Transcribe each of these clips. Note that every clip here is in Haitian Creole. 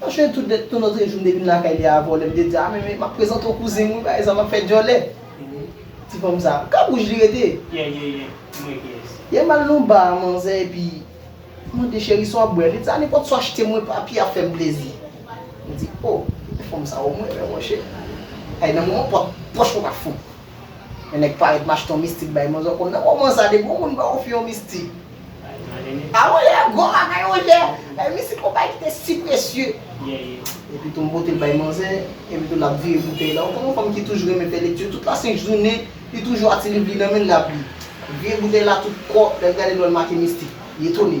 Mwen jwenn tout lèt nou lòtre jou m depi m lakay li a vòlè m te di a men men map prezante w kouzin m wi pa egzanp map fè djòlè ti fanm sa kap wouj li rete yè yè yè m wè kiyès. Yè m al nan bar a manzè epi m mande cheri sa wap bwè li di a nenpòt sa achte mwen papi a fèm plezi m di oh men fanm sa ou mwen wè monchè ay nan moman pòch mwen pat fon Yon nèg parèt mache ton mistik bay manzè kòb nan moman sa depi yon moun ba w fi yon mistik a ou lè gwo bagay mon chè bay mistik yon bagay ki te si presye epi tou m pote l bay manzè epi tou l ap vire boutèy la ou konnen yon fanm ki toujou renmen fè lekti tout la sent jounen li toujou a ti liv li nan men l l ap li vire boutèy la tout kò lè l gade l wè l make mistik li etone.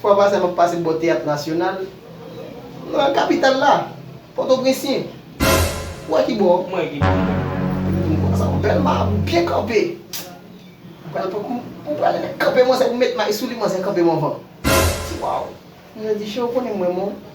Fwa pase a map pase bò Teyat Nasyonal nan kapital la, Pòtoprensyen. Ou wè ki bò? Mwen wè ki bò. Epi dim konsa sa wè bèl ma a byen kanpe. M pral pran kou m pral kanpe manzè pou m met may sou li manzè kanpe m anvan. Waw! Manzè di Chè ou konnen m wè m ou